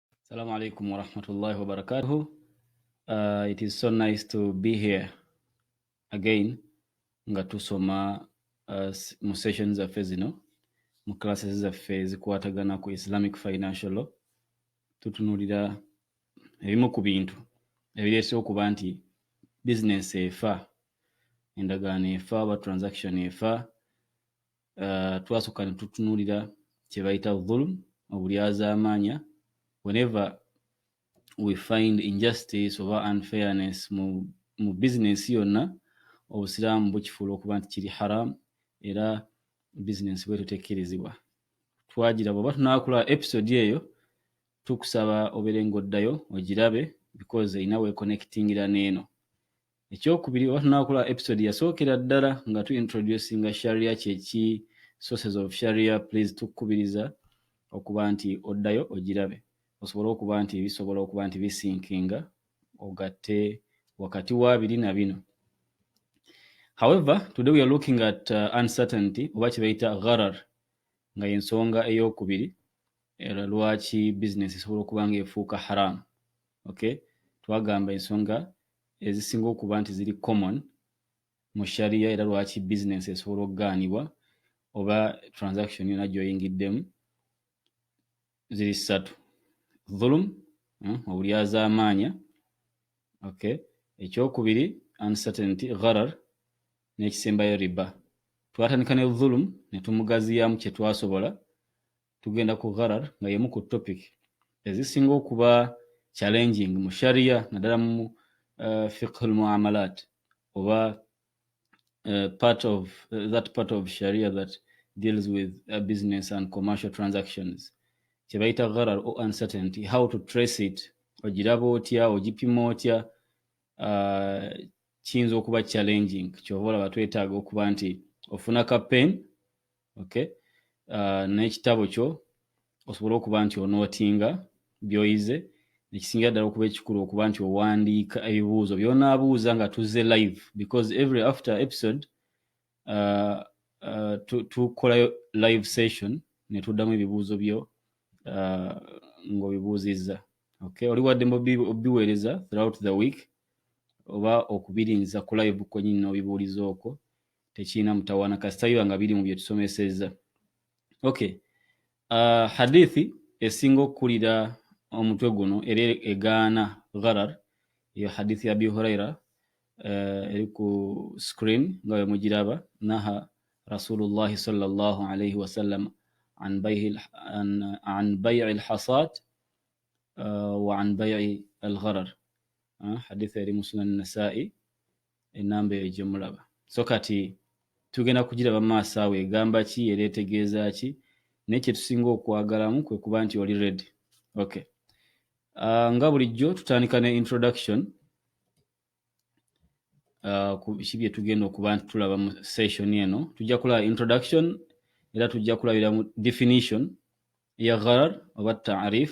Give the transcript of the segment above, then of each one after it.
Assalamu alaikum warahmatullahi wabarakatuhu. Uh, it is so nice to be here again nga tusoma uh, mu session zaffe zino mu classes zaffe zikwatagana ku Islamic Financial Law tutunulira ebimu ku bintu ebireese okuba nti bizinensi efa endagaano efa oba transaction efa uh, twasooka ne tutunuulira kye bayita dhulum obulyazaamaanya whenever we find injustice oba unfairness mu, mu bizinensi yonna obusiraamu bukifuula okuba nti kiri haram era bizinensi bweto tekkirizibwa twagira bwoba tunaakula episode eyo tukusaba obeere ng'oddayo ogirabe because erina weekonectingira n'eno ekyokubiri oba tunakola episode yasookera ddala nga tu introducinga sharia kyeki sources of sharia please tukubiriza okuba nti oddayo ogirabe osobole okuba nti bisobola okuba nti bisinkinga ogatte wakati wa biri na bino however today we are looking at uh, uncertainty oba kyebayita gharar nga yensonga eyokubiri era lwaki business esobola okuba nga efuuka haram okay twagamba ensonga ezisinga okuba nti ziri common mu sharia era lwaki business esobola okugaanibwa oba transaction yona gyoyingiddemu ziri ssatu dhulum hmm, obulyazaamaanya okay ekyokubiri uncertainty gharar n'ekisembayo riba twatandika ne dhulum ne tumugaziyamu kye twasobola tugenda ku gharar nga yemu ku topic ezisinga okuba challenging mu sharia naddala mu uh, eh, fiqhu lmuamalat oba uh, part of uh, that part of sharia that deals with uh, business and commercial transactions kyebayita gharar o uncertainty how to trace it ogiraba otya ogipima otya uh, kiyinza okuba challenging kyova olaba twetaaga okuba nti ofuna ka pain okay uh, n'ekitabo kyo osobole okuba nti onootinga by'oyize ekisingira ddala okuba ekikulu okuba nti owandiika ebibuuzo byonaabuuza nga tuzze live because every after episode uh, uh, tukolayo live session ne tuddamu ebibuuzo byo uh, ng'obibuuzizza okay oli wadde mubiweereza throughout the week oba okubirinza ku live kwenyini n'obibuuliza okwo tekirina mutawaana kasita biba nga biri mu bye tusomesezza okay uh, hadithi esinga okukulira omutwe guno era egaana gharar eyo hadithi ya abi huraira uh, eri ku screen nga bwe mugiraba naha rasulullahi salllahu alaihi wasallam an bai'i alhasad uh, wa an bai'i algharar uh, hadithi eri mu sunan nasai enamba eyo gyemulaba so kati tugenda kugiraba maaso awo egamba ki era etegeeza ki naye kyetusinga okwagalamu kwe kuba nti oli redi ok uh, nga bulijjo tutandika ne introduction uh, ki byetugenda okuba nti tulaba mu session eno tujja kulaba introduction era tujja kulabira mu definition ya gharar oba taarif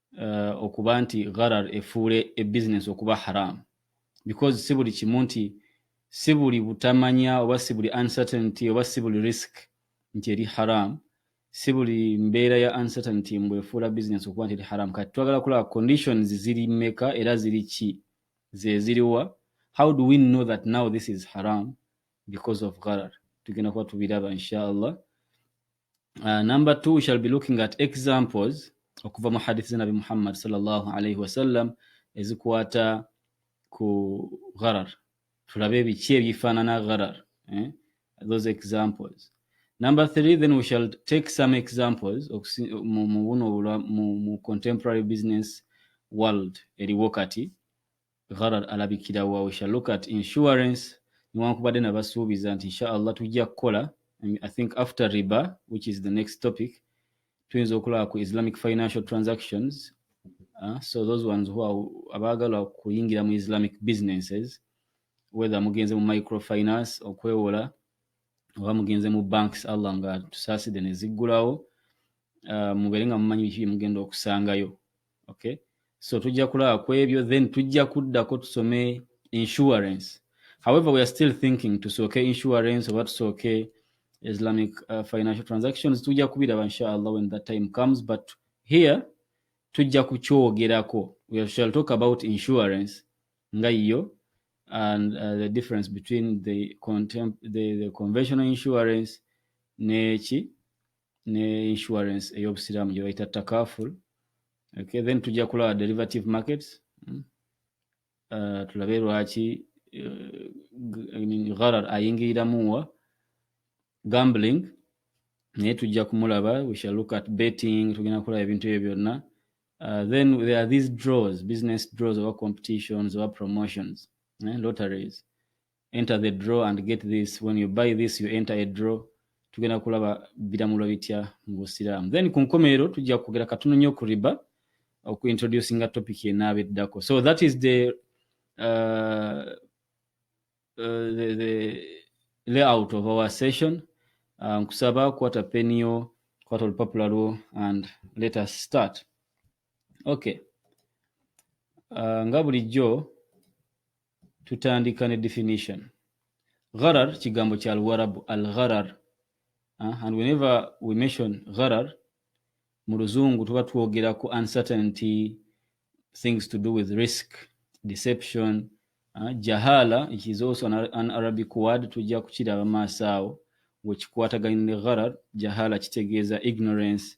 uh, okuba nti gharar efuule e business okuba haram because si buli kimu nti si buli butamanya oba si buli uncertainty oba si buli risk nti eri haram si buli mbeera ya uncertainty mbu efuula business okuba nti eri haram kati twagala kulaba conditions ziri meka era ziri ki zeziriwa how do we know that now this is haram because of gharar tugenda kuba tubiraba inshallah uh, number two we shall be looking at examples okuva mu hadith za nabi muhammad salllahu alaihi wasallam ezikwata ku gharar tulabe biki ebyifaanana gharar eh? those examples number three then we shall take some examples mu contemporary business world eriwo kati gharar alabikira wa we shall look at insurance newankubadde nabasuubiza nti inshaallah tujja kukola i think after riba which is the next topic tuyinza okulaba ku islamic financial transactions uh, so those ones who are abaagala kuyingira mu islamic businesses whether mugenze mu microfinance okwewola oba mugenze mu banks allah nga tusaaside neziggulawo uh, mubeere nga mumanyi biki byemugenda okusangayo okay so tujja kulaba ku ebyo then tujja kuddako tusome insurance however we are still thinking tusooke insurance oba tusooke islamic uh, financial transactions tujja kubiraba inshallah when that time comes but here tujja kukyogerako we shall talk about insurance nga yiyo and uh, the difference between the, the, the conventional insurance neki ne insurance ey'obusiraamu gye bayita takaful okay, then tujja kulaba derivative markets hmm? uh, tulabe lwaki uh, gharar ayingiriramu wa gambling naye tujja kumulaba we shall look at betting tugenda kulaba ebintu ebyo byonna uh, then there are these draws business draws oba competitions oba promotions eh, lotteries enter the draw and get this when you buy this you enter a draw tugenda kulaba biramulwa bitya mu busiraamu then ku nkomerero tujja kwogera katono nnyo ku riba okuintroducinga topic enaaba eddako so that is the, uh, uh, the, the layout of our session uh, nkusaba uh, kwata peniyo kwata olupapula lwo and let us start okay uh, nga bulijjo tutandika ne definition gharar kigambo kya luwarabu al gharar uh, and whenever we mention gharar mu luzungu tuba twogera ku uncertainty things to do with risk deception uh, jahala which is also an, an arabic word tujja kukiraba maaso awo wekikwataganye ne gharar jahala kitegeeza ignorance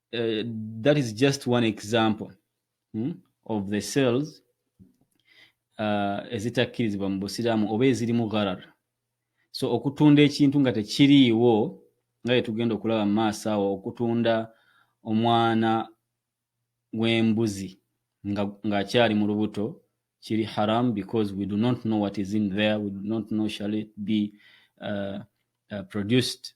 uh, that is just one example hmm, of the cells uh, ezitakkirizibwa mu busiraamu oba ezirimu gharar so okutunda ekintu nga tekiriiwo nga yetugenda okulaba mu maaso awo okutunda omwana w'embuzi ng'akyali nga mu lubuto kiri haram because we do not know what is in there we do not know shall it be uh, uh, produced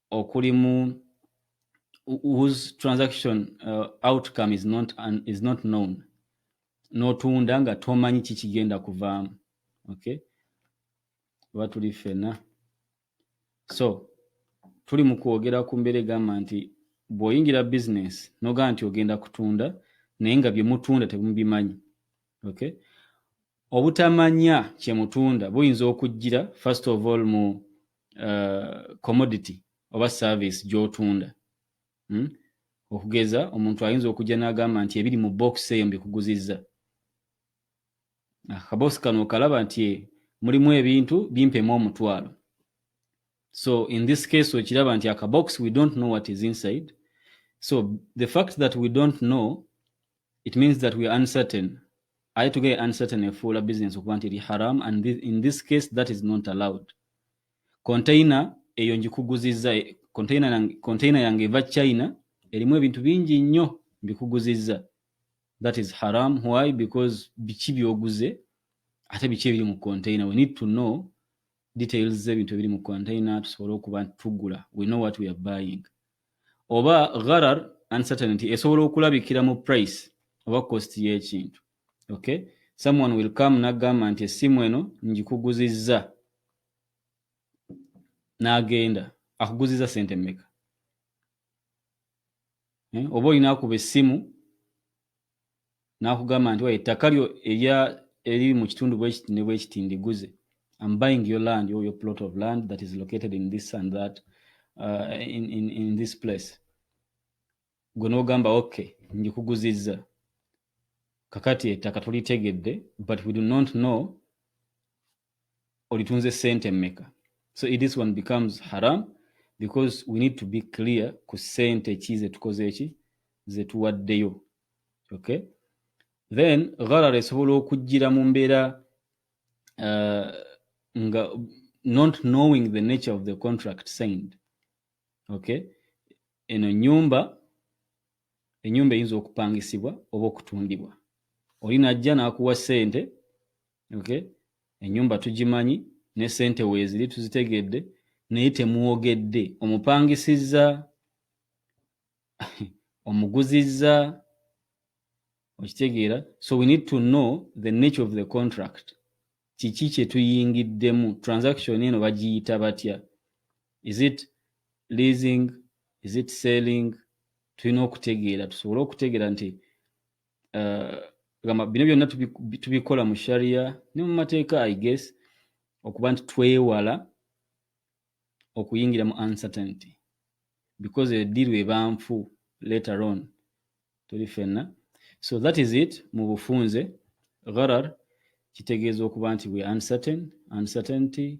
okuli mu whose transaction uh, outcome is not, un, is not known n'otunda nga tomanyi kikigenda kuvaamu okay oba tuli ffena so tuli mu kwogera ku mbeera egamba nti bw'oyingira bizinesi nogaa nti ogenda kutunda naye nga bye mutunda temubimanyi okay obutamanya kye mutunda buyinza okujjira first of all mu uh, commodity oba service gyotunda hmm? okugeza omuntu ayinza okujja n'agamba nti ebiri mu box eyo mbikuguzizza akabosi ah, kano okalaba nti eh, mulimu ebintu bimpemu omutwalo so in this case okiraba nti akabox we don't know what is inside so the fact that we don't know it means that we are uncertain aye tugee uncertain efuula business okuba nti eri haram and this, in this case that is not allowed container eyo njikuguzizza container yange eva china erimu ebintu bingi nnyo mbikuguzizza that is haram why because biki byoguze ate biki ebiri mu container we need to know details z'ebintu ebiri mu container tusobole okuba tugula we know what we are buying oba gharar uncertainty esobola okulabikira mu price oba cost y'ekintu okay someone will come nagamba nti essimu eno ngikuguzizza n'agenda akuguzizza sente mmeka eh, oba olina akuba essimu n'akugamba nti waye ettaka lyo erya eriri mu kitundu bwekiti ne bwekiti ndiguze am buying your land or your plot of land that is located in this and that uh, in, in, in this place gwe n'ogamba ok ngikuguzizza kakati ettaka tulitegedde but we do not know olitunze sente meka so it this one becomes haram because we need to be clear ku sente ki zetukoze eki zetuwaddeyo okay then gharara esobola okujjira mu mbeera uh, nga not knowing the nature of the contract signed okay eno nyumba enyumba eyinza okupangisibwa oba okutundibwa oli najja n'akuwa sente okay enyumba tugimanyi ne sente weziri tuzitegedde naye temwogedde omupangisizza omuguzizza okitegeera so we need to know the nature of the contract kiki kyetuyingiddemu transaction eno bagiyita batya is it leasing is it selling tulina okutegeera tusobole okutegeera nti uh, gamba bino byonna tubikola mu sharia ne mu mateeka i guess okuba nti twewala okuyingira mu uncertainty because ediru eba nfu later on tuli fenna so that is it mu bufunze gharar kitegeeza okuba nti we uncertain uncertainty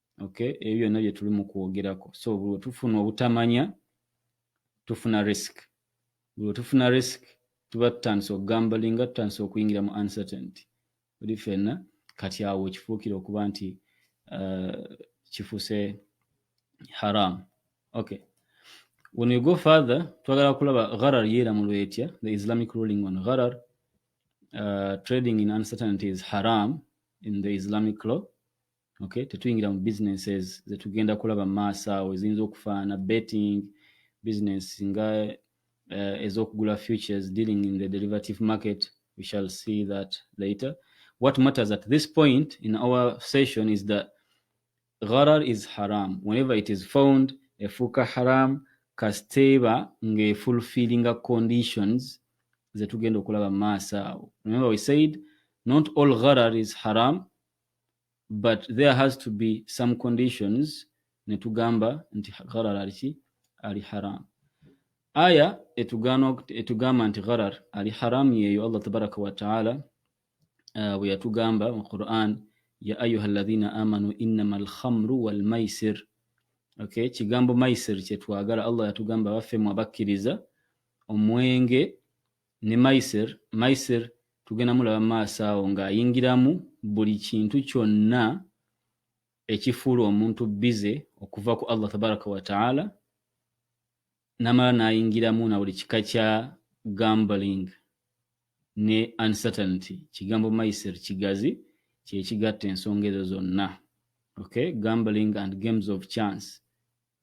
okay ebyo byonna bye tuli mu kwogerako so buli tufuna obutamanya tufuna risk buli tufuna risk tuba tutandise okugambalinga tutandise okuyingira mu uncertainty oli fenna kati awo kifuukire okuba nti uh, kifuse haram okay when we go further twagala kulaba gharar yeera mu lwetya the islamic ruling on gharar uh, trading in uncertainty is haram in the islamic law okay tetuyingira mu businesses zetugenda kulaba mu maaso awo eziyinza okufaana betting business nga uh, ez'okugula futures dealing in the derivative market we shall see that later what matters at this point in our session is that gharar is haram whenever it is found efuuka haram kasiteeba ng'efulfillinga conditions zetugenda okulaba mu maaso awo remember we said not all gharar is haram but there has to be some conditions netugamba nti gharar aliki ali haram aya etugamba nti gharar ali haram yeyo allah tabaraka wataala uh, bwe yatugamba mu quran ya ayuha ladhina amanu innama alkhamru walmaisir okay kigambo maisir kyetwagala allah yatugamba baffe mu abakkiriza omwenge ne Maisir, Maisir tugenda mulaba mu maaso awo ng'ayingiramu buli kintu kyonna ekifuula omuntu bize okuva ku Allah tabaraka wa taala namala n'ayingiramu na buli kika kya gambling ne uncertainty kigambo Maisir kigazi kyekigatta ensonga ezo zonna okay gambling and games of chance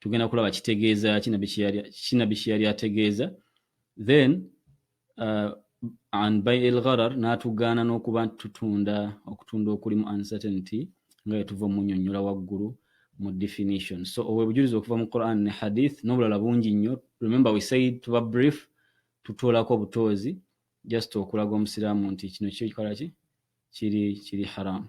tugenda kulaba kitegeeza kinabbi kyeyali ategeeza then uh, an by el gharar n'atugaana n'okuba tutunda okutunda okulimu uncertainty nga yetuva omunyonyola waggulu mu definition so owebujulizi okuva mu quran ne hadith n'obulala bungi nnyo remember we said tuba brief tutoolako obutoozi just okulaga omusiraamu nti kino kyokola ki kiri kiri haramu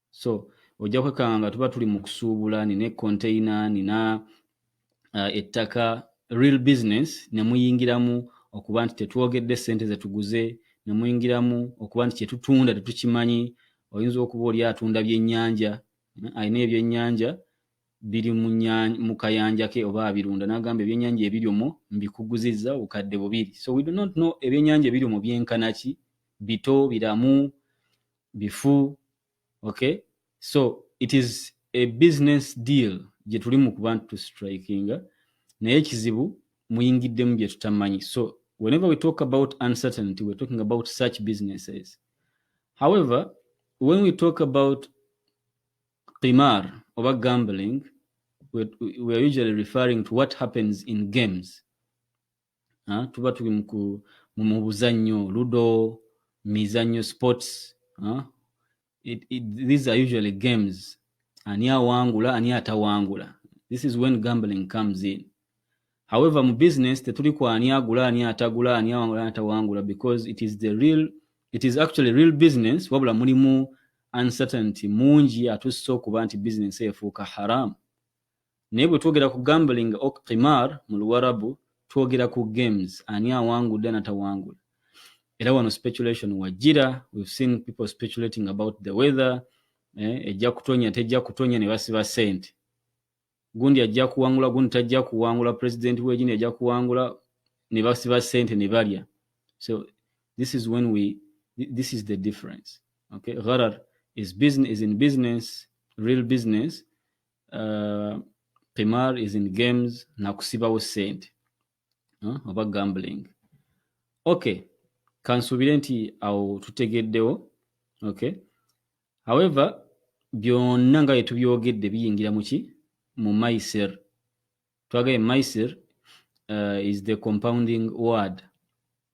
so ojja kwekanga nga tuba tuli mu kusuubula nina econtaina nina uh, ettaka real business ne muyingiramu okuba nti tetwogedde sente zetuguze ne muyingiramu okuba nti kyetutunda tetukimanyi oyinza okuba oli atunda byennyanja eh, alina ebyennyanja biri mu kayanja ke oba abirunda nagamba ebyennyanja ebiri omwo mbikuguzizza obukadde bubiri so we do not know ebyennyanja ebiri omwo byenkanaki bito biramu bifu okay so it is a business deal gye tuli mu kuba nti tustrikinga naye ekizibu muyingiddemu bye tutamanyi so whenever we talk about uncertainty we're talking about such businesses however when we talk about qimar oba gambling we're, we're usually referring to what happens in games ha? tuba tuli mu buzannyo ludo mizannyo sports ha? It, it, these are usually games ani awangula ani atawangula this is when gambling comes in however mu business tetuli ku ani agula ani atagula ani awangula ani atawangula because it is the real it is actually real business wabula mulimu uncertainty mungi atussa okuba nti business efuuka haramu naye bwe twogera ku gambling ok qimar mu luwarabu twogera ku games ani awangudde anatawangula era wano speculation wajjira we've seen people speculating about the weather eh, ejja kutonya tejja kutonya ne basiba sente gundi ajja kuwangula gundi tajja kuwangula president wegini ajja kuwangula ne basiba sente ne balya so this is when we this is the difference okay gharar is business is in business real business uh, qimar is in games nakusibawo sente huh? oba gambling okay kansuubire nti awo tutegeddewo okay however byonna nga byetubyogedde biyingira muki mu maiser twagaye maisir uh, is the compounding word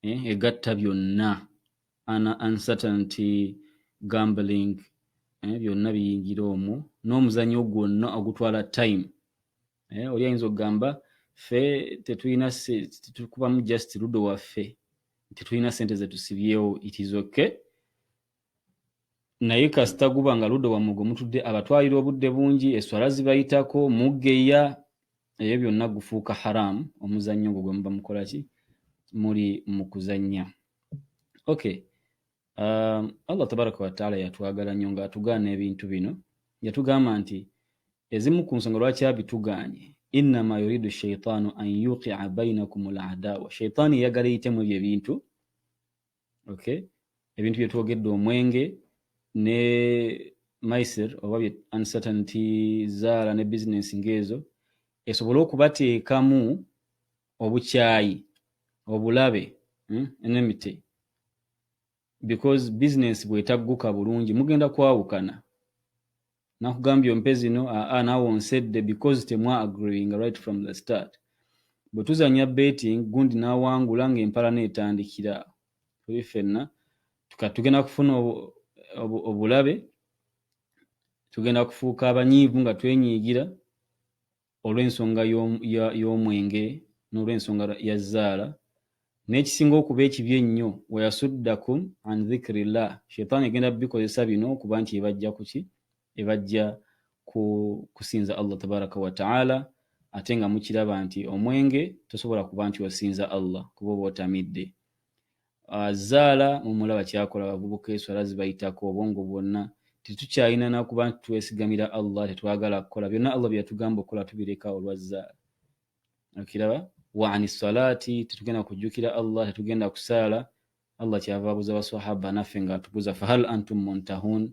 eh, egatta byonna ana uncertainty gambling eh, byonna biyingira omwo n'omuzanyo gwonna ogutwala time eh, oli ayinza okugamba fe tetulina tetukubamu just ludo waffe tetulina sente zetusibyewo it is okay naye kasita guba nga ludde wammwe gwe mutudde abatwalira obudde bungi eswala zibayitako muggeya ebyo byonna gufuuka haramu omuzannyo ogwo gwe muba mukola ki muli mu kuzannya okay um, allah tabaraka wataala yatwagala nnyo ng'atugaana ebintu bino yatugamba nti ezimu ku nsonga lwaki abitugaanye innama yuridu shaitaanu an yuqia bainakum ladawa shaitaani eyagala eyitemu ebyo ebintu okay ebintu bye twogedde omwenge ne maisir oba bye uncertainty zaala ne business ng'ezo esobole okubateekamu obukyayi obulabe hmm, enemity because business bwetagguka bulungi mugenda kwawukana nakugambye ompe zino aa ah, ah, nawe onsedde because temwa agreeing right from the start bwe tuzanya betting gundi nawangula nga empalana etandikira tuli fenna tugenda kufuna obulabe tugenda kufuuka abanyiivu nga twenyiigira olw'ensonga y'omwenge n'olw'ensonga ya zzaala n'ekisinga okuba ekibi ennyo wayasuddakum an dhikirillah sheitaani egenda bikozesa bino okuba nti ebajja kuki ebajja ku kusinza allah tabaraka wataala ate nga mukiraba nti omwenge tosobola kuba nti osinza allah kuba oba otamidde Ah, zaala mumulaba kyakola abavubuka eswala zibayitako obwongo bwonna tetukyalina nakuba nti twesigamira allah tetwagala kukola byonna allah byeyatugamba okukola tubireka olwa zaala okiraba waani salaati tetugenda kujjukira allah tetugenda kusaala allah kyava abuza baswahaba naffe nga atubuza fahal antum muntahun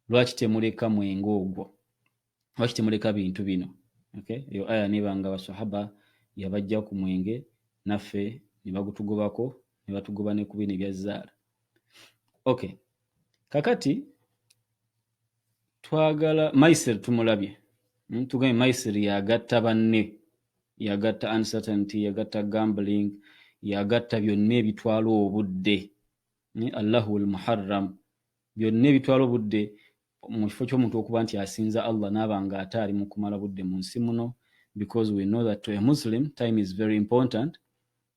lwaki temuleka mwenge ogwo lwaki temuleka bintu bino okay? eyo aya nebanga basahaba yabajja ku mwenge naffe nebagutugobako nebatugoba ne ku bino ebyazaala okay kakati twagala maisir tumulabye hmm, tugambye maisir yagatta banne yagatta uncertainty yagatta gambling yagatta byonna ebitwala obudde ni allahu lmuharram byonna ebitwala obudde mu kifo ky'omuntu okuba nti asinza allah naaba nga ate ali mu kumala budde mu nsi muno because we know that to a muslim time is very important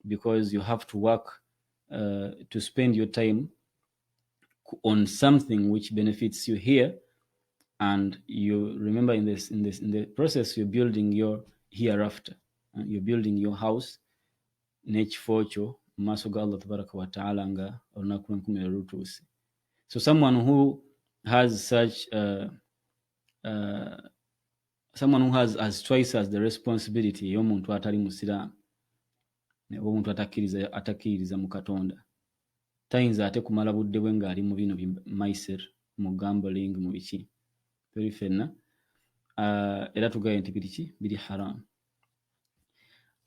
because you have to work uh, to spend your time on something which benefits you here and you remember in this in this in the process you're building your hereafter uh, you're building your house n'ekifo kyo mu maaso ga Allah tabaraka wa ta'ala nga olunaku lw'enkomerero lutuuse so someone who has such uh, uh, someone who has as twice as the responsibility ey'omuntu atali musiraamu oba omuntu atakkiriza mu katonda tayinza ate kumala budde bwe nga ali mu bino bi mysir mu gambling mu biki tuli fenna uh, era tugaye nti biri ki biri haram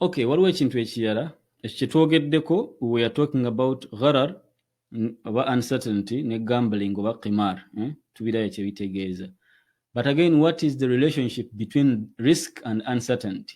okay waliwo ekintu ekirala ekyo kyetwogeddeko we are talking about gharar oba uncertainty ne gambling oba qimar eh? tubirayo kyebitegeeza but again what is the relationship between risk and uncertainty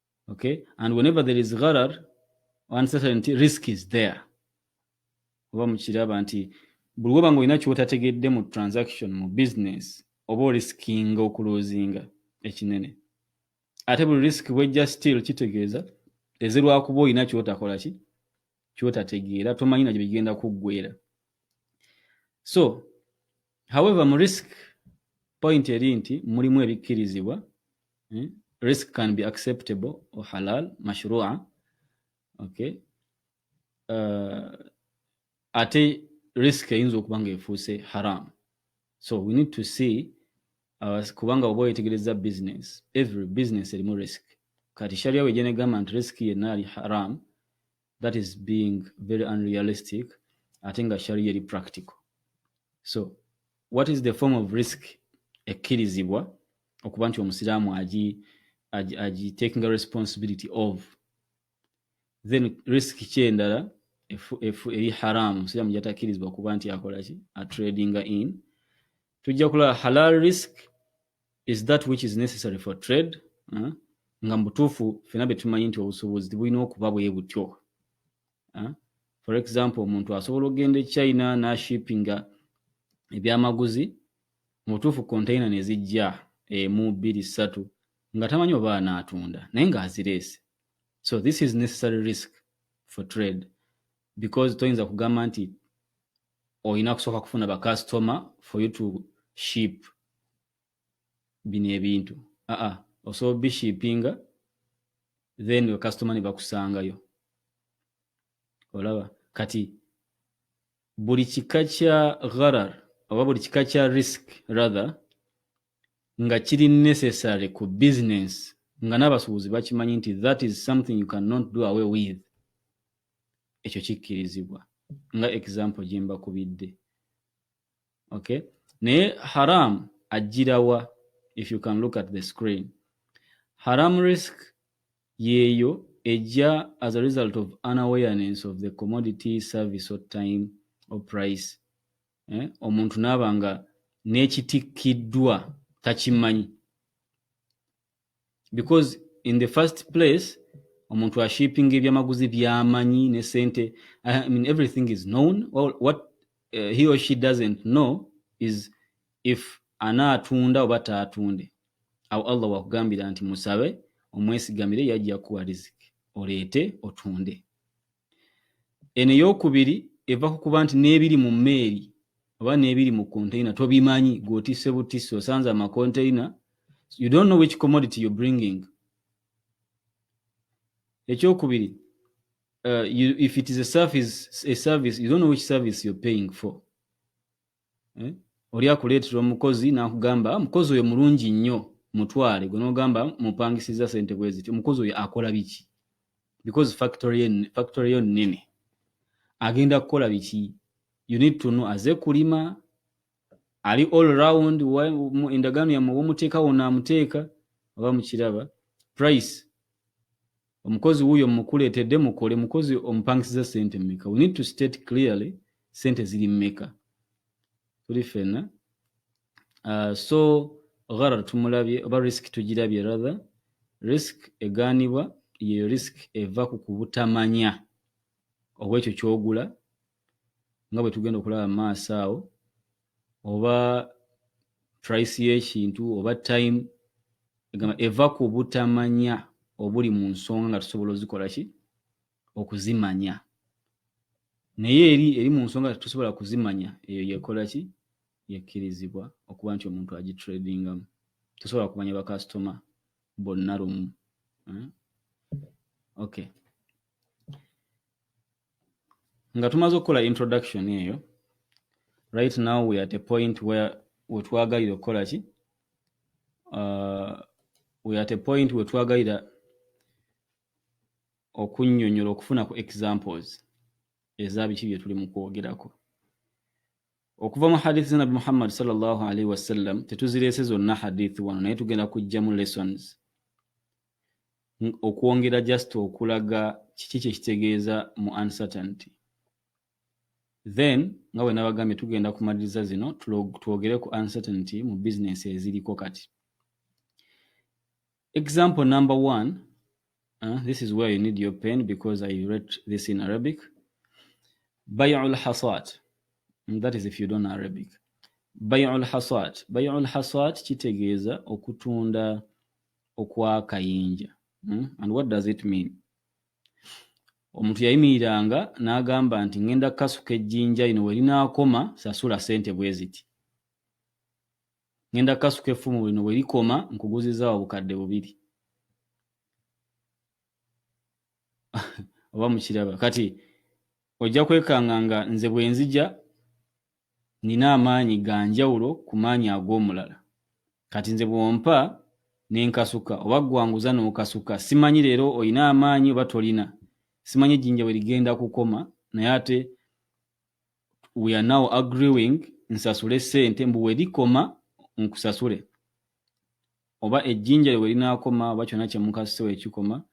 okay and whenever there is gharar uncertainty risk is there oba mukiraba nti buli woba nga olina kyotategedde mu transaction mu business oba oriskinga okulozinga ekinene ate buli risk bwejja still kitegeeza ezirwakuba olina kyotakola ki kyotategeera tomanyi na gyebigenda kuggwera so however mu risk point eri nti mulimu ebikkirizibwa hmm? risk can be acceptable or halal mashrua okay uh, ate risk eyinza okuba nga efuuse haram so we need to see uh, kubanga oba oyetegereza business every business erimu risk kati sharia wejenegamba nti risk yenna ali haram that is being very unrealistic ate nga sharia eri practical so what is the form of risk ekkirizibwa okuba nti omusiraamu agi agi taking a responsibility of then risk ki endala eri haramu omusiraamu gyatakirizibwa okuba nti akolaki atradinga in tujja kulaba halal risk is that which is necessary for trade uh, nga mubutuufu fena betumanyi nti obusubuzi tibulina okuba bwe butyo uh, for example omuntu asobola okugenda e china nashipinga ebyamaguzi mubutuufu containa nezijja emu bbiri ssatu nga tamanyi oba anaatunda naye ngaazireese so this is necessary risk for trade because toyinza kugamba nti olina kusooka kufuna bakasitoma for you to ship bino ebintu aa osobola obishipinga then bakasitoma ne bakusangayo olaba kati buli kika kya gharar oba buli kika kya risk rather nga kiri necessary ku business nga n'abasuubuzi bakimanyi nti that is something you cannot do away with ekyo kikkirizibwa nga example gye mbakubidde okay naye haram ajjirawa if you can look at the screen haram risk yeeyo ejja as a result of unawareness of the commodity service or time or price eh? omuntu naaba nga n'ekitikkiddwa takimanyi because in the first place omuntu ashipping ebyamaguzi byamanyi ne sente I mean everything is known well, what uh, he or she doesn't know is if anaatunda oba taatunde awo allah wakugambira nti musabe omwesigamire yajja kuwa riziki oleete otunde Eno eyokubiri eva ku kuba nti n'ebiri mu mmeeri oba n'ebiri mu container tobimanyi gw'otisse butisse osanze amacontainer you don't know which commodity you're bringing ekyokubiri uh, you, if it is a service, a service you don't know which service you're paying for eh? oli akuleetera omukozi n'akugamba mukozi oyo mulungi nnyo mutwale gwe n'ogamba mupangisiza sente bwe ziti omukozi oyo akola biki because factory yo nnene agenda kukola biki you need to know aze kulima ali all round endagaano yamwe womuteekawo naamuteeka oba mukiraba price omukozi wuyo mukuletedde mukole mukozi omupangisiza sente meka we need to state clearly sente ziri meka tuli fena uh, ah, so gharar tumulabye oba risk tugirabye rather risk eganibwa yeyo risk eva ku kubutamanya obwekyo kyogula nga bwe tugenda okulaba mu maaso awo oba price y'ekintu oba time egamba eva ku butamanya obuli mu nsonga nga tusobola ozikola ki okuzimanya naye eri eri mu nsonga tetusobola kuzimanya eyo yekola ki yekkirizibwa okuba nti omuntu agitradingamu tosobola kumanya bakasitoma bonna lumu eh? okay nga tumaze okukola introduction eyo right now we at a point where wetwagalira okukola ki uh, we at a point wetwagalira okunyonyola okufuna ku examples ezabiki byetuli mu kwogerako okuva mu hadith za nabi muhammad salllah alaihi wasallam tetuzireese zonna hadith wano naye tugenda kujjamu lessons okwongera just okulaga kiki kyekitegeeza mu uncertainty then nga bwe nabagambye tugenda kumaliriza zino twogere ku uncertainty mu bizinensi eziriko kati Example number one, uh, this is where you need your pen because I read this in Arabic. Bay'ul hasad. Mm, that is if you don't know Arabic. Bay'ul hasad. Bay'ul hasad kitegeeza okutunda okwakayinja. Mm? And what does it mean? omuntu yayimiriranga n'agamba nti ngenda kasuka ejjinja lino werinaakoma sasula sente bwe ziti ngenda kasuka effumu bwino bwe likoma nkuguziza obukadde bubiri oba mukiraba kati ojja kwekanga nga nze bwenzija nina amaanyi ga njawulo ku maanyi ag'omulala kati nze bwompa nenkasuka oba gwanguza n'okasuka simanyi leero olina amaanyi oba tolina simanyi ejjinja bwe ligenda kukoma naye ate we are now agreeing nsasule sente mbu welikoma nkusasule oba ejjinja lwe linaakoma oba kyonna kye mukasise wekikoma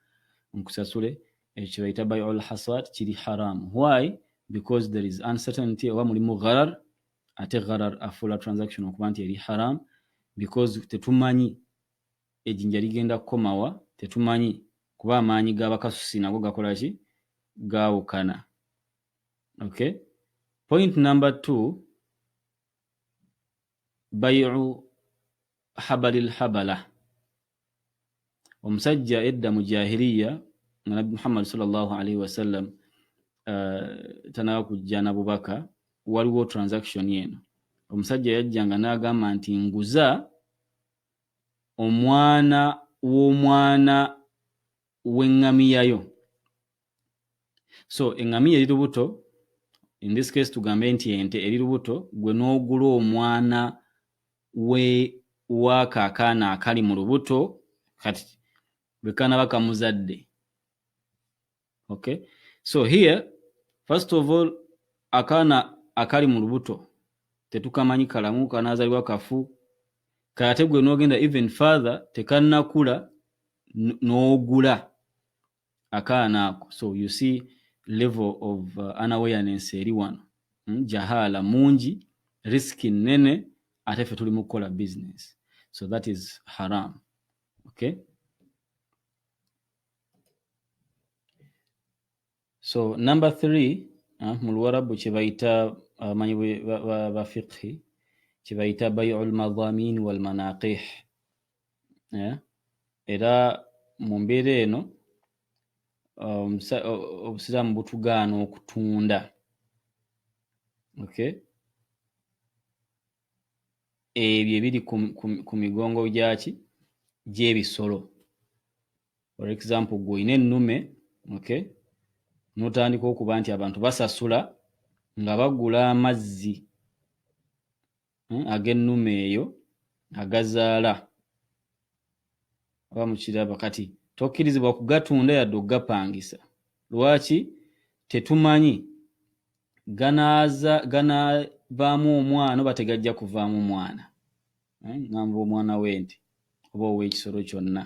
nkusasule ekyo kyebayita by all hasad kiri haram why because there is uncertainty oba mulimu gharar ate gharar afuula transaction okuba nti eri haram because tetumanyi ejjinja ligenda kukomawa tetumanyi kuba amaanyi g'abakasusi nago gakola ki gaawukana okay point number two bayiu habali lhabala omusajja edda mu jahiliya nga nabbi muhammad salllah alaihi wasallam uh, tanaba kujja na bubaka waliwo transaction eno omusajja yajjanga n'agamba nti nguza omwana w'omwana w'eŋŋamiyayo so engamiya eri lubuto in this case tugambe nti ente eri lubuto gwe n'ogula omwana we waako akaana akali mu lubuto kati bwe kaanaba kamuzadde okay so here first of all akaana akali mu lubuto tetukamanyi kalamu kanaazalibwa kafu kate gwe n'ogenda even father tekannakula n'ogula no akaana ako so you see level of uh, unawareness eri wano hmm? jahala mungi risk nene ate fe tuli mukukola business so that is haram okay so number three uh, mu luwarabu kyebayita abamanyi uh, bafiqhi kyebayita bayu lmadhamin walmanaqih eh, era mu mbeera eno um, obusiraamu butugaana okutunda okay ebyo ebiri ku migongo gyaki gy'ebisolo for example gwe olina ennume okay notandika okuba nti abantu basasula nga bagula amazzi hmm, ag'ennume eyo agazaala aba mukiraba kati tokkirizibwa kugatunda yadde okugapangisa lwaki tetumanyi ganaavaamu omwana oba tegajja kuvaamu mwana eh, ngamba omwana w'ente oba ow'ekisolo kyonna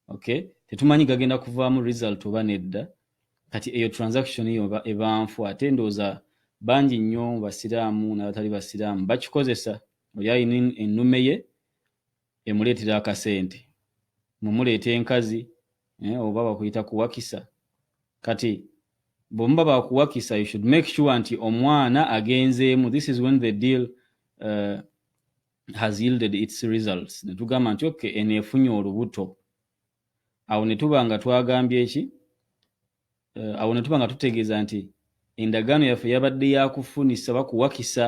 okay tetumanyi gagenda kuvaamu result oba nedda kati eyo transaction yo ebanfu ate ndooza bangi nnyo mu basiraamu n'abatali basiraamu bakikozesa oli alina ennume ye emuleetera akasente mumuleeta enkazi eh, oba bakuyita kuwakisa kati bwemuba bakuwakisa you should make sure nti omwana agenzeemu this is when the deal uh, has yielded its results ne tugamba nti okay eno efunye olubuto awo ne tuba nga twagambye ki eh, awo ne tuba nga tutegeeza nti endagaano yaffe yabadde yakufunisa bakuwakisa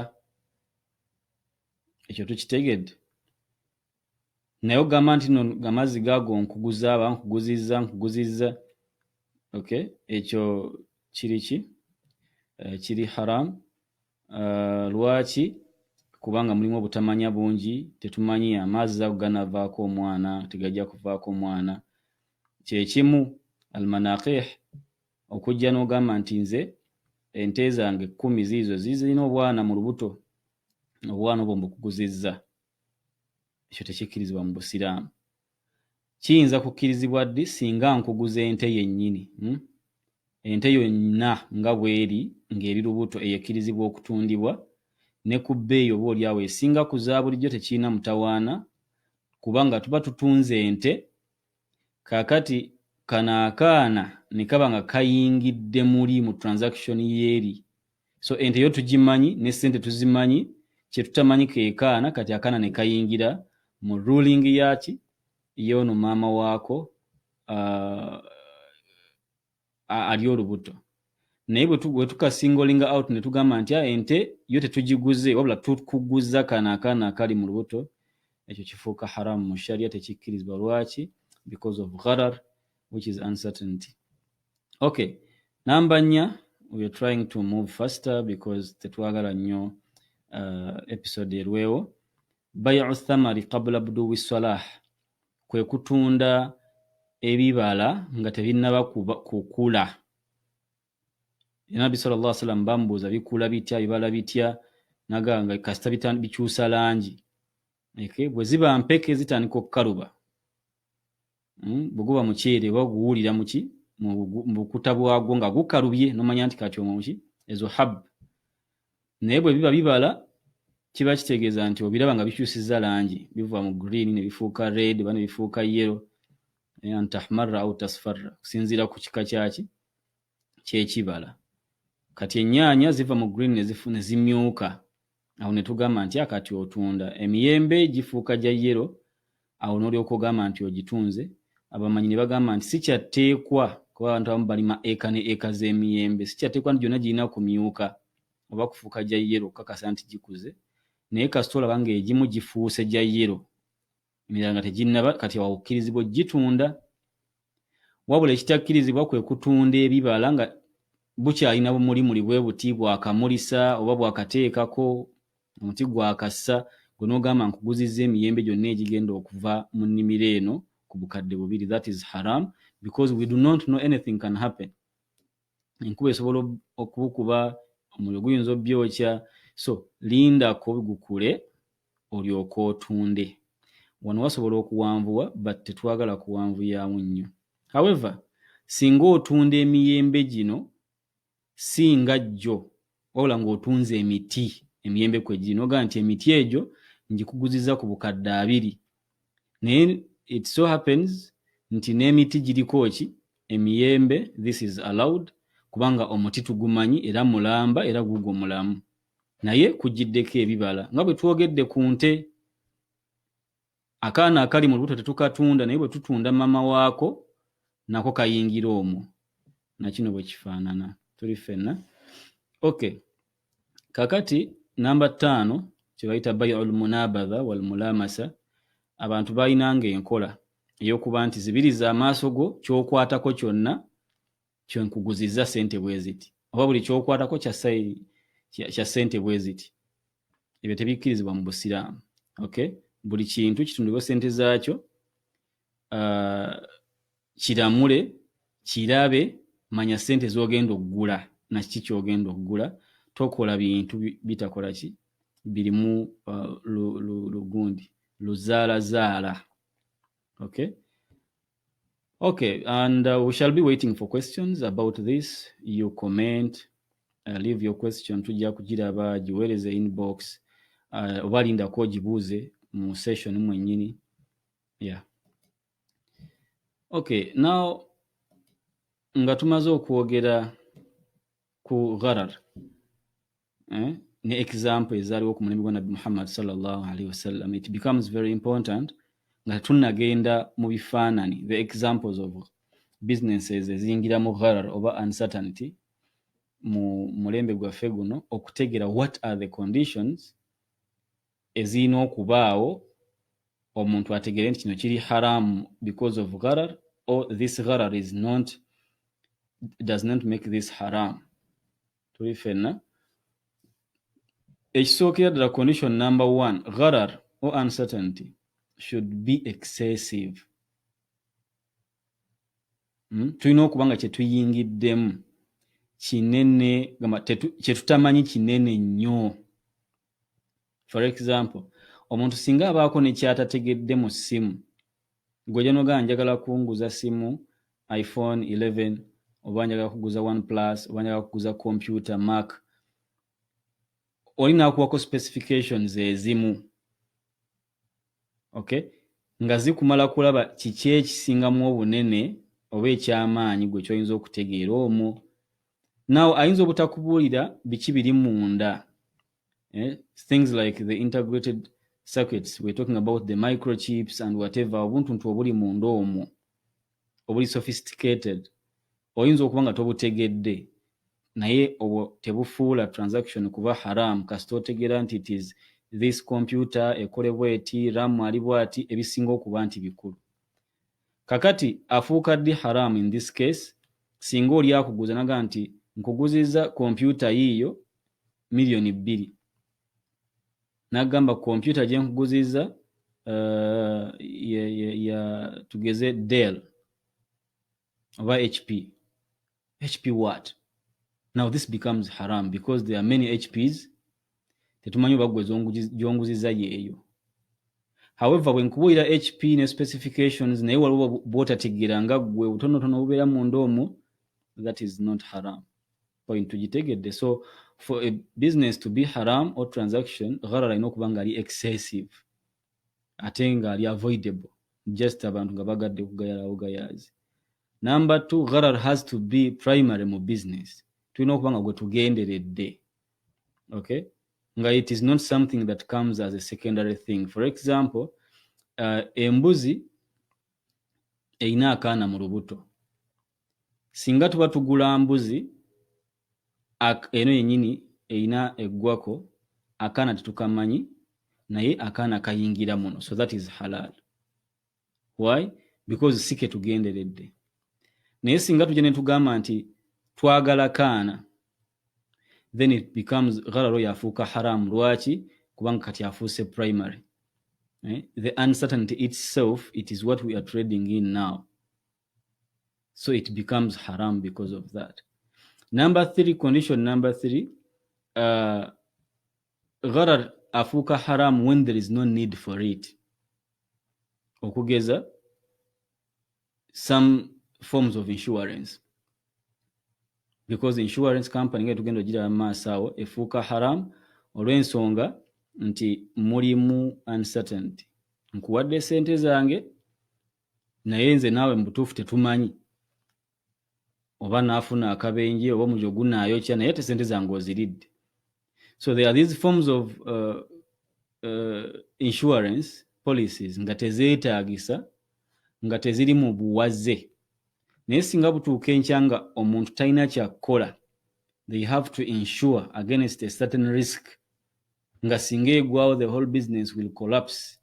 ekyo tukitegedde naye ogamba nti no amazzi gaago nkuguza aba nkuguzizza nkuguzizza okay ekyo kiri ki eh, kiri haramu Uh, lwaki kubanga mulimu obutamanya bungi tetumanyi amaazi ago ganavaako omwana tegajja kuvaako omwana kyekimu almanakih okujja n'ogamba nti nze ente zange kkumi ziizo zizirina obwana mu lubuto obwana obwo mbukuguzizza ekyo tekikkirizibwa mu busiraamu Kiyinza kukkirizibwa ddi singa nkuguza ente yennyini? Hmm? Ente yonna nga bw'eri ng'eri lubuto eyo ekkirizibwa okutundibwa ne ku bbeeyi oba olyawo esinga ku za bulijjo tekirina mutawaana kubanga tuba tutunze ente kaakati kano akaana ne kaba nga kayingidde muli mu transaction y'eri so ente yo tugimanyi ne sente tuzimanyi kyetutamanyi kekaana kati akaana nekayingira mu ruling yaki yoono maama waako uh, ali olubuto naye bwetukasingolinga out netugamba nti ah, ente yo tetugiguze wabula tukuguza kana akaana akali mu lubuto ekyo kifuuka haramu mu sharia tekikkirizibwa lwaki because of gharar which is uncertainty okay namba nnya weare trying to move faster because tetwagala nnyo uh, episode erwewo bayu thamari kabula buduwi salah kwe kutunda ebibala nga tebinnaba kukula nabbi sal llah sallam bamubuuza bikula bitya bibala bitya naganga kasita bikyusa langi bwe ziba mpeke zitandika okukaluba mm, bweguba muceere oba guwulira muki mubukuta bwagwo nga gukalubye nomanya nti kati omwo muki ezo hab naye bwe biba bibala kiba kitegeeza nti obiraba nga bikyusiza langi biva mu green ne bifuuka red oba ne bifuuka yellow eh, antahmarra au tasfarra okusinziira ku kika kyaki kyekibala kati enyaanya ziva mu green ne zimyuka awo ne tugamba nti akati otunda emiyembe gifuuka gya yero awo n'olyoka ogamba nti ogitunze abamanyi ne bagamba nti sikyatteekwa kuba abantu abamu balima eka ne eka z'emiyembe sikyatteekwa nti gyonna girina kumyuka oba kufuuka gya yero okukakasa nti gikuze naye kasita olaba ng'egimu gifuuse gya yero emirala nga teginnaba kati awakkirizibwa okugitunda wabula ekitakkirizibwa kwe kutunda ebibala nga bukyalina bumulimuli bwe buti bwakamulisa oba bwakateekako omuti gwakassa gwe n'ogamba nkuguzizza emiyembe gyonna egigenda okuva mu nnimiro eno ku bukadde bubiri that is haram because we do not know anything can happen enkuba esobola okubukuba omuliro guyinza obyokya so lindako gukule olyoka otunde wano wasobola okuwanvuwa but tetwagala kuwanvuyamu nnyo however singa otunda emiyembe gino singa jjo wabula ng'otunze emiti emiyembe kwe giri nogaa nti emiti egyo ngikuguziza ku bukadde abiri naye it so happens nti n'emiti giriko ki emiyembe this is allowed kubanga omuti tugumanyi era mulamba era guugwo mulamu naye kugiddeko ebibala nga bwe twogedde ku nte akaana akali mu lubuto tetukatunda naye bwe tutunda mama waako nako kayingira omwo nakino bwe kifaanana tuli ffenna okay kakati namba ttaano kyebayita baiul munabadha wal mulamasa abantu balinanga enkola eyokuba nti zibiriza amaaso go kyokwatako kyonna kyenkuguzizza sente bweziti oba buli kyokwatako kya sente bweziti ebyo tebikkirizibwa mu busiraamu okay buli kintu kitundibwa sente zaakyo uh, kiramule kirabe manya sente zogenda okugula nakiki kyogenda okugula tokola bintu bitakola ki birimu uh, lugundi luzaala zaala okay okay and uh, we shall be waiting for questions about this you comment uh, leave your question tujja kugiraba giweereza inbox uh, oba lindako ogibuuze mu session mwennyini yeah okay now nga tumaze okwogera ku gharar eh? ne example ezaaliwo ku mulembe gwa nabbi muhammad salllah alaihi wasallam it becomes very important nga tunagenda mu bifaanani the examples of businesses eziyingira mu gharar oba uncertainty mu mulembe gwaffe guno okutegera what are the conditions ezirina okubaawo omuntu ategeere nti kino kiri haramu because of gharar or this gharar is not does not make this haram tuli fenna ekisookera ddala condition number one gharar or uncertainty should be excessive hmm? tulina okuba nga kyetuyingiddemu kinene kyetutamanyi kinene nnyo for example omuntu singa abaako nekyatategedde mu simu gwejanoga njagala kunguza simu iphone 11 oba njagala kuguza one plus oba njagala kuguza computer mark oli nakuwako specifications ezimu okay nga zikumala kulaba kiki ekisingamu obunene oba ekyamaanyi gwe kyoyinza okutegeera omwo naw ayinza obutakubuulira biki biri munda eh? things like the integrated circuits we're talking about the microchips and whatever obuntuntu obuli munda omwo obuli sophisticated oyinza okuba nga tobutegedde naye obwo tebufuula transaction kuba haram kasita otegera nti it is this computer ekolebwa eti ram ali bwati ebisinga okuba nti bikulu kakati afuuka ddi haram in this case singa oli akuguza naga nti nkuguziza kompyuta yiiyo miliyoni bbiri nagamba kompyuta gyenkuguzizza uh, ya, ya, ya tugeze del oba hp hp what now this becomes haram because there are many hps tetumanyi oba gwe gyonguzizza yeeyo however bwenkubuulira hp ne specifications naye waliwo bwotategeera nga gwe obutonotono obubeera munda omwo that is not haram point tugitegedde so for a business to be haram or transaction gharara alina okuba nga ali excessive ate nga ali avoidable just abantu nga bagadde kugayalawo gayaazi number two gharar has to be primary mu business tulina okuba nga gwetugenderedde okay nga it is not something that comes as a secondary thing for example uh, embuzi erina akaana mu lubuto singa tuba tugula mbuzi eno yenyini erina eggwako akaana tetukamanyi naye akaana kayingira muno so that is halal why because si ketugenderedde naye singa tujja netugamba nti twagala kaana then it becomes ghararo yafuuka haramu lwaki kubanga kati afuuse primary eh? the uncertainty itself it is what we are trading in now So it becomes haram because of that. Number three, condition number three, uh, gharar afuka haram when there is no need for it. Okugeza, some forms of insurance. Because insurance company nga tugenda ojira maaso awo efuuka haram olw'ensonga nti mulimu uncertainty nkuwadde sente zange naye nze naawe mubutuufu tetumanyi oba naafuna akabenje oba omuliro gunaayokya naye ate sente zange oziridde so there are these forms of uh, uh, insurance policies nga tezeetaagisa nga teziri mu buwaze naye singa butuuka enkya nga omuntu talina kyakukola they have to insure against a certain risk nga singa egwawo the whole business will collapse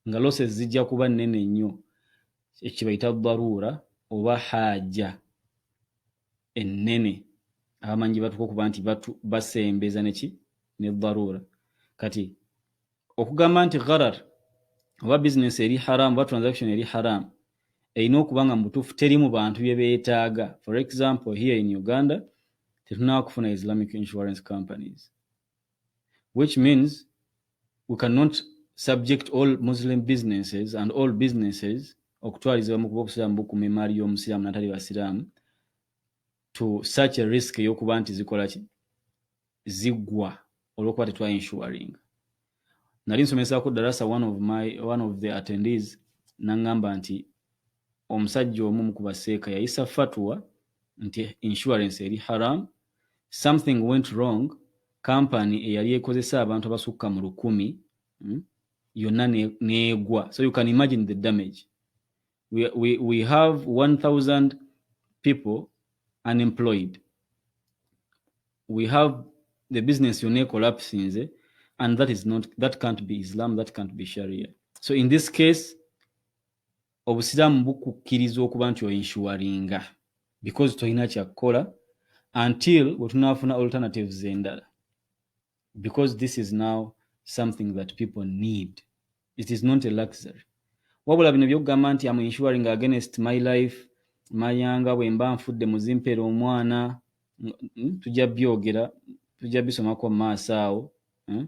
nga losses zijja kuba nnene nnyo ekyebayita daruura oba haaja ennene abamanyi gye batuka okuba nti basembeza neki ne daruura kati okugamba nti gharar oba bizinesi eri haramu oba transaction eri haramu erina okuba nga mubutuufu teri mu bantu bye beetaaga for example here in uganda tetunaba kufuna islamic insurance companies which means we cannot subject all muslim businesses and all businesses okutwalizibwa mu kuba obusiraamu bukuma emaali y'omusiraamu natali basiraamu to such a risk eyokuba nti zikola ki ziggwa olwokuba tetwa insuring nali nsomesako darasa one of my one of the attendees nangamba nti omusajja omu ku baseeka yayisa fatwa nti insurance eri haram something went wrong kampani eyali ekozesa abantu abasukka mu lukumi hmm, yonna neegwa so you can imagine the damage we, we, we have 1000 people unemployed we have the business yonna ecollapsinze and that is not that can't be islam that can't be sharia so in this case obusiraamu bukukkiriza okuba nti oinshuwaringa because tolina kyakukola until wetunaafuna alternatives endala because this is now something that people need it is not a luxury wabula bino byokugamba nti am insuring against my life mayanga bwemba nfudde muzimpera omwana hmm, tujja byogera tujja bisomako mumaaso awo hmm?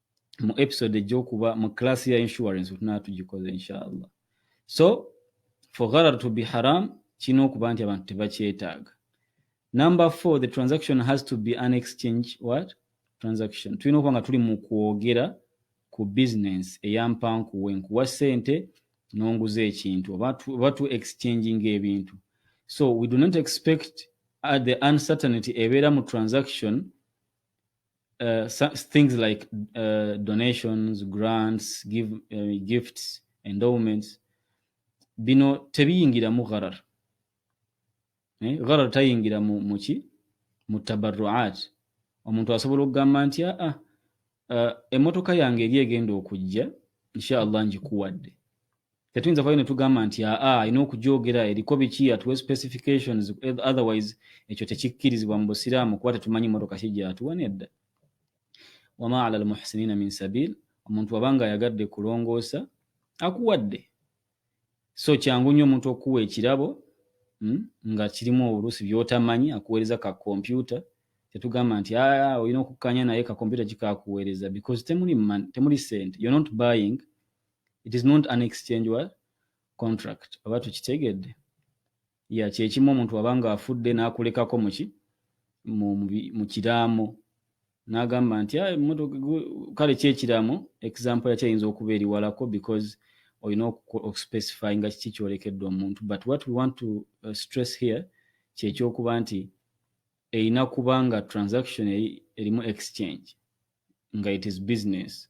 mu episode ejokuba mu class ya insurance tunaa tugikoze inshallah so for gharar to be haram kirina okuba nti abantu tebakyetaaga number four the transaction has to be an exchange what transaction tulina okuba nga tuli mu kwogera ku business eyampankuwe nkuwa sente nonguza ekintu oba tu exchanging ebintu so we do not expect uh, the uncertainty ebeera mu transaction uh, things like uh, donations grants give, uh, gifts endowments bino tebiyingiramu gharar eh? gharar tayingira mu, muki mu tabarruat omuntu asobola okugamba nti aa ah, uh, emotoka yange eri egenda okujja inshallah njikuwadde tetuyinza vayo netugamba nti aa alina okugyogera eriko biki atuwe specifications otherwise ekyo tekikkirizibwa mu busiraamu kuba tetumanyi motoka ki gyatuwa nedda wama ala almuhsinina min sabil omuntu waba nga ayagadde kulongoosa akuwadde so kyangu nnyo omuntu okukuwa ekirabo hmm, nga kirimu oluusi byotamanyi akuweereza ka kompyuta tetugamba nti aa olina okukkanya naye ka kompyuta kikakuweereza because temuli, temuli sente you're not buying it is not an exchange wa contract oba tukitegedde ya kyekimu omuntu waba nga afudde nakulekako muki mu kiraamo nagamba nti ah, kale kyekiraamo example yakyo ayinza okuba eriwalako because olina okuspecify nga kiki kyolekedde omuntu but what we want to uh, stress here kyekyokuba nti erina kuba nga transaction erimu exchange nga it is business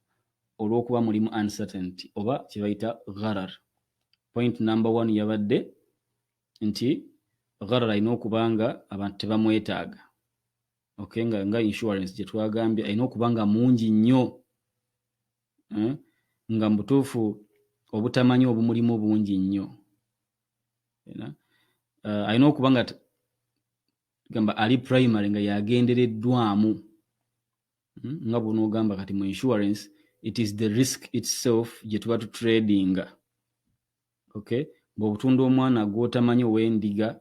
olwokuba mulimu uncertainty oba kyebayita gharar point number one yabadde nti gharar alina okuba nga abantu tebamwetaaga okay nga, nga insurance gyetwagambye alina okuba nga mungi nnyo eh? nga mubutuufu obutamanyi obumulimu bungi nnyo uh, alina okuba nga gamba ali primary nga yagendereddwamu hmm? nga bwonoogamba kati mu insurance it is the risk itself gye tuba tutradinga okay bw'otunda omwana gw'otamanyi ow'endiga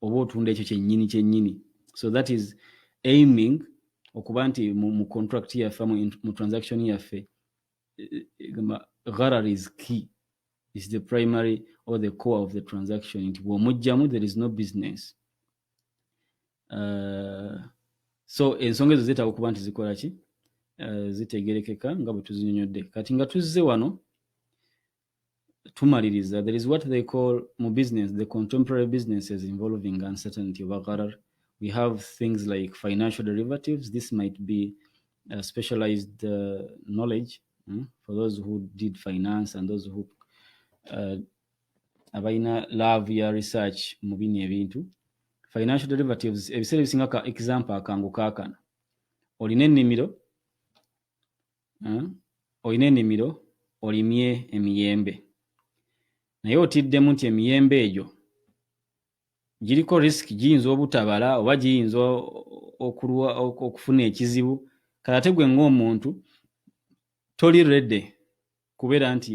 oba otunda ekyo kyennyini kyennyini so that is aiming okuba nti mu, mu contract yaffe mu, mu transaction yaffe eh, eh, gharar is key is the primary or the core of the transaction nti bw'omugjamu there is no business uh, so ensonga ezo zeetaaga okuba nti zikola ki uh, zitegerekeka nga bwe tuzinyonyodde kati nga tuzze wano tumaliriza there is what they call mu business the contemporary businesses involving uncertainty oba gharar we have things like financial derivatives this might be uh, specialized uh, knowledge mm, for those who did finance and those who uh, abalina love ya research mu bino ebintu financial derivatives ebiseera ebisinga ka example akangu kaakano olina ennimiro eh, olina ennimiro olimye emiyembe naye otiddemu nti emiyembe egyo giriko risk giyinza obutabala oba giyinza okufuna ekizibu kale ate gwe ng'omuntu toli rede kubeera nti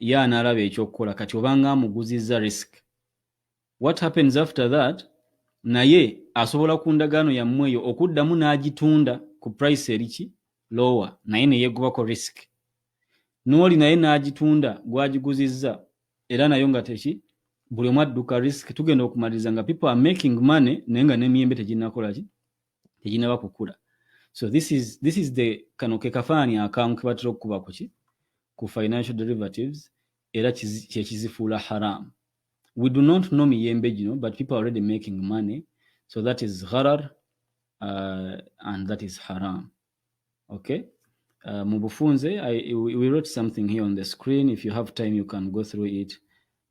ye anaalaba ekyokukola kati obanga amuguzizza risk what happens after that naye asobola ku ndagaano yammwe eyo okuddamu n'agitunda ku price eriki lower naye neyegubako risk n'oli naye n'agitunda gwagiguzizza era nayo nga teki buli omu adduka risk tugenda okumaliriza nga people are making money naye nga n'emiyembe teginakolaki teginaba kukula so this is, this is the kano ke kafaananyi akamu kebatera okukuba kuki ku financial derivatives era kyekizifuula haram we do not know miyembe gino but people already making money so that is gharar uh, and that is haram okay uh, mu bufunze I, we, we wrote something here on the screen if you have time you can go through it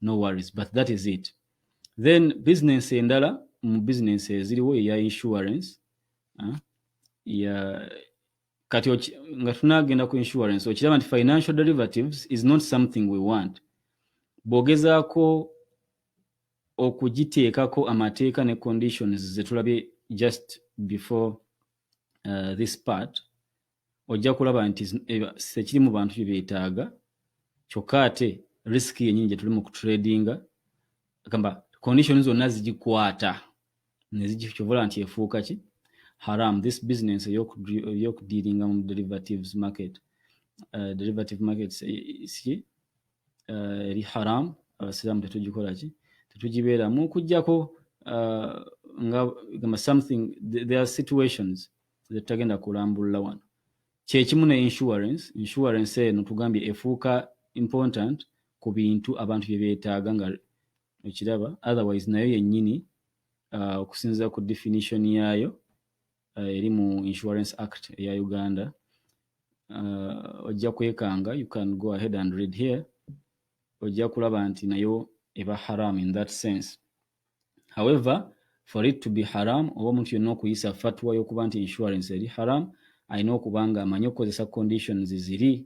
no worries but that is it then business endala mu business eziriwo eya insurance uh, ya kati nga tunagenda ku insurance okiraba nti financial derivatives is not something we want bw'ogezaako okugiteekako amateeka ne conditions zetulabye just before uh, this part ojja kulaba nti sekiri mu bantu bye beetaaga kyokka ate risk yenyini gyetuli mu kutradinga gamba condition zonna zigikwata nezigikyovula nti efuuka ki haram this business eyokudiringa mu derivatives market uh, derivative markets eh, si uh, eri haram abasiraamu tetugikola ki tetugibeeramu okujjako uh, nga gamba something there are situations zetutagenda kulambulula wano kyekimu ne insurance insurance eno tugambye efuuka important ku bintu abantu bye beetaaga nga okiraba otherwise nayo yennyini uh, okusinziira ku definition yaayo uh, eri mu insurance act eya uganda uh, ojja kwekanga you can go ahead and read here ojja kulaba nti nayo eba haram in that sense however for it to be haram oba omuntu yonna okuyisa fatwa y'okuba nti insurance eri haram alina okuba nga amanyi okukozesa conditions ziri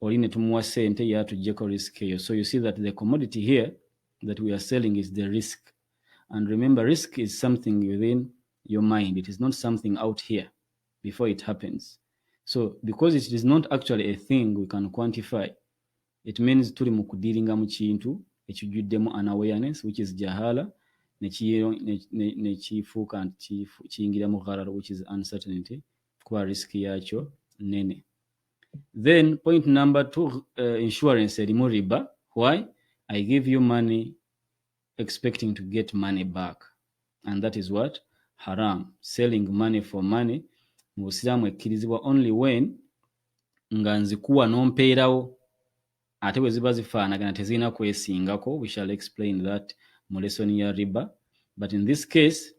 oli ne tumuwa sente ye atujjeko risk eyo so you see that the commodity here that we are selling is the risk and remember risk is something within your mind it is not something out here before it happens so because it is not actually a thing we can quantify it means tuli mu kudiringa mu kintu ekijjuddemu an awareness which is jahala nekifuuka nti kiyingira mu gharar which is uncertainty kuba risk yakyo nene then point number two uh, insurance erimu riba why i give you money expecting to get money back and that is what haram selling money for money mu busiraamu ekkirizibwa only when nga nzikuwa nompeerawo ate bwe ziba zifaanagana tezirina kwesingako we shall explain that mu lesoni ya riba but in this case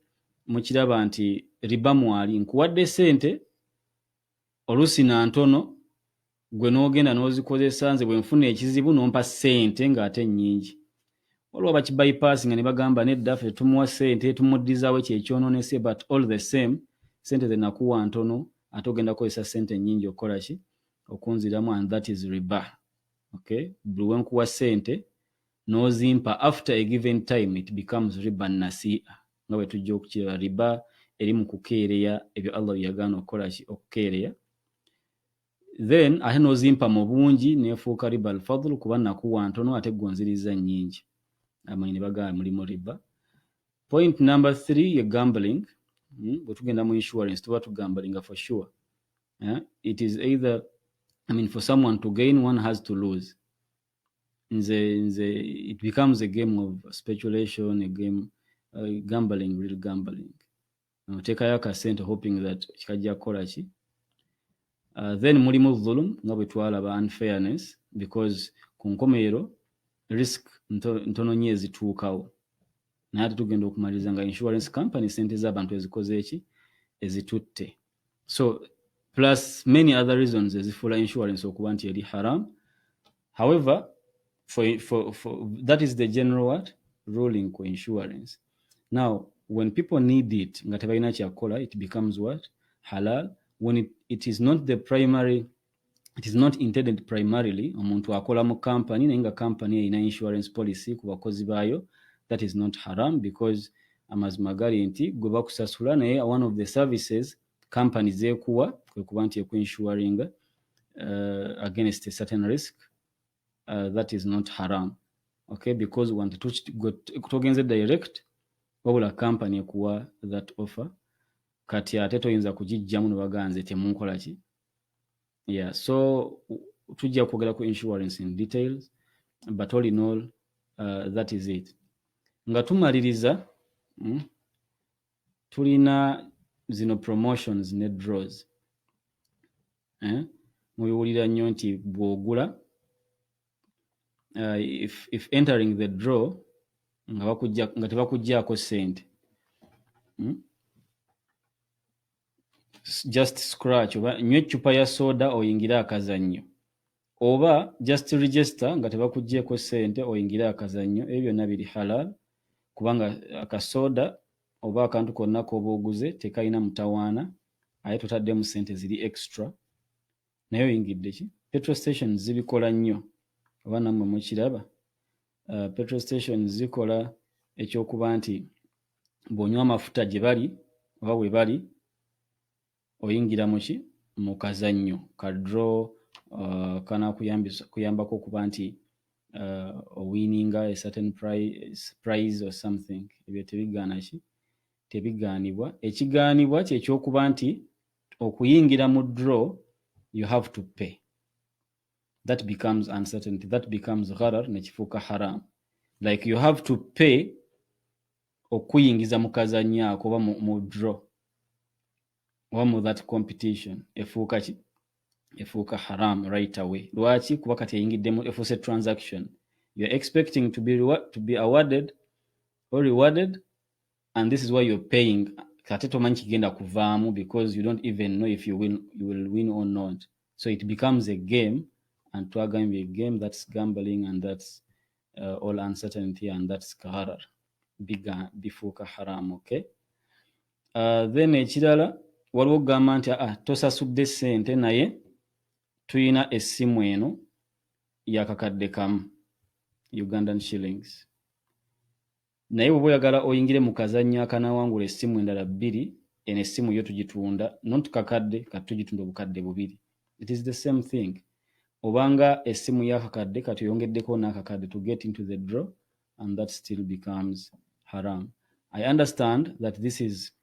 mukiraba nti riba mwali nkuwadde sente oluusi na ntono gwe n'ogenda n'ozikozesa nze bwe nfuna ekizibu n'ompa ssente ng'ate nnyingi waliwo bakibayipaasi nga ne bagamba nedda ffe tetumuwa ssente tumuddizaawo ekyo ekyonoonese but all the same ssente ze nakuwa ntono ate ogenda kukozesa ssente nnyingi okukola ki okunziramu and that is riba okay buli we nkuwa ssente n'ozimpa after a given time it becomes riba nasiia nga bwe tujja okukiraba riba eri mu kukeereya ebyo allah bye yagaana okukola ki okukeereya then ate n'ozimpa mu bungi neefuuka riba alfadulu kuba nakuwa ntono ate gonziriza nnyingi amanyi ne bagamba mulimu riba point number three ye gambling hmm? bwe tugenda mu insurance tuba tugambalinga for sure eh? it is either i mean for someone to gain one has to lose nze nze it becomes a game of speculation a game uh, gambling real gambling otekayo akasente hoping that kikajja kukola ki uh, then mulimu dhulum nga bwe twalaba unfairness because ku nkomerero risk ntono nyo ezituukawo naye ate tugenda okumaliriza nga insurance company sente z'abantu ezikoze eki ezitutte so plus many other reasons ezifuula insurance okuba nti eri haram however for, for, for, that is the general what ruling ku insurance now when people need it nga tebalina kyakukola it becomes what halal when it, it is not the primary it is not intended primarily omuntu akola mu company naye nga company erina insurance policy ku bakozi baayo that is not haram because amazima gali nti gwe bakusasula naye one of the services company zeekuwa kwe kuba nti eku insuringa uh, against a certain risk uh, that is not haram okay because wantu togenze direct wabula company ekuwa that offer kati ate toyinza kugijjamu ne baganze temunkola ki yeah so tujja kwogera ku insurance in details but all in all uh, that is it nga tumaliriza mm, tulina zino promotions ne draws eh? mubiwulira nnyo nti bw'ogula uh, if, if entering the draw nga, bakujja, nga tebakuggyako ssente hmm? just scratch oba nywa eccupa ya soda oyingire akazannyo oba just register nga tebakuggyeko ssente oyingire akazannyo ebyo byonna biri halal kubanga akasoda oba akantu konna k'oba oguze tekalina mutawaana aye totaddemu ssente ziri extra naye oyingidde ki petrol station zibikola nnyo oba nammwe mukiraba uh, petrol station zikola ekyokuba nti bw'onywa amafuta gye bali oba we bali oyingira muki mu kazannyo ka draw uh, kanakuyambako okuba nti uh, owininga a certain price, price or something ebyo tebigaana ki tebigaanibwa ekigaanibwa kyekyokuba nti okuyingira mu draw you have to pay that becomes uncertainty that becomes gharar nekifuuka haram like you have to pay okuyingiza mu kazanyo ako oba mu draw oba mu that competition efuuka ki efuuka haram right away lwaki kuba kati eyingiddemu efuuse transaction you're expecting to be, to be awarded or rewarded and this is why you're paying kate tomanyi kigenda kuvaamu because you don't even know if you will, you will win or not so it becomes a game and twagambye a game that's gambling and that's uh, all uncertainty and that's kaharar biga bifuuka haram okay uh, then ekirala waliwo okugamba nti ah, tosasudde sente naye tulina essimu eno yakakadde kamu ugandan shillings naye bwoba oyagala oyingire mu kazannyo akanawangula essimu endala bbiri eno essimu yo tugitunda not kakadde kati tugitunda obukadde bubiri it is the same thing obanga essimu yakakadde kati oyongeddeko n'akakadde to get into the draw and that still becomes haram i understand that this is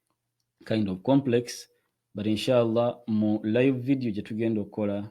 kind of complex but inshallah mu live video gye tugenda okukola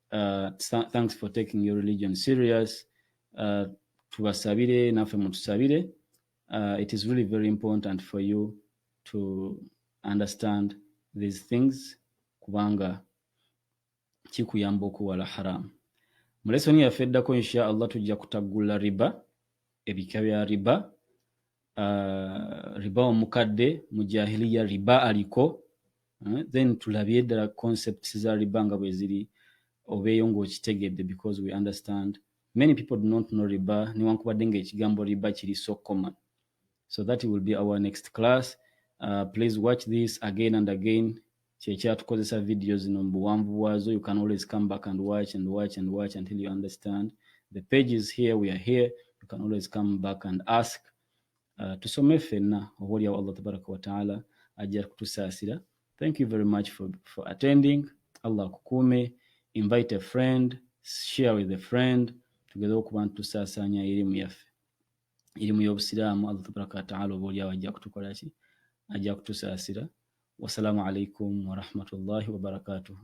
Uh, thanks for taking your religion serious. Uh, tubasabire naffe mutusabire. Uh, it is really very important for you to understand these things kubanga kikuyamba okuwala haramu. Mu lesoni yaffe eddako insha Allah tujja kutaggula riba, ebika bya riba uh, riba omukadde mu jahiliya riba aliko uh, then tulabye ddala concepts za riba nga bweziri obeeyo ngaokitegedde because we understand many people do not know riba newankubadde nga ekigambo riba kiri so common so that will be our next class uh, please watch this again and again kyekyatukozesa video zino mu buwanvu bwazo you can always come back and watch and watch and watch until you understand the page is here we are here you can always come back and ask uh, tusome fenna oba olyawo allah tabaraka wataala ajja kutusaasira thank you very much for, for attending allah akukuume invite a friend share with a friend tugeze okuba nti tusaasaanya erimu yaffe irimu y'obusiraamu allah tabaraka wataala oba olyawo ajja kutukola ki ajja kutusaasira wasalaamu alaikum warahmatullahi wabarakatuhu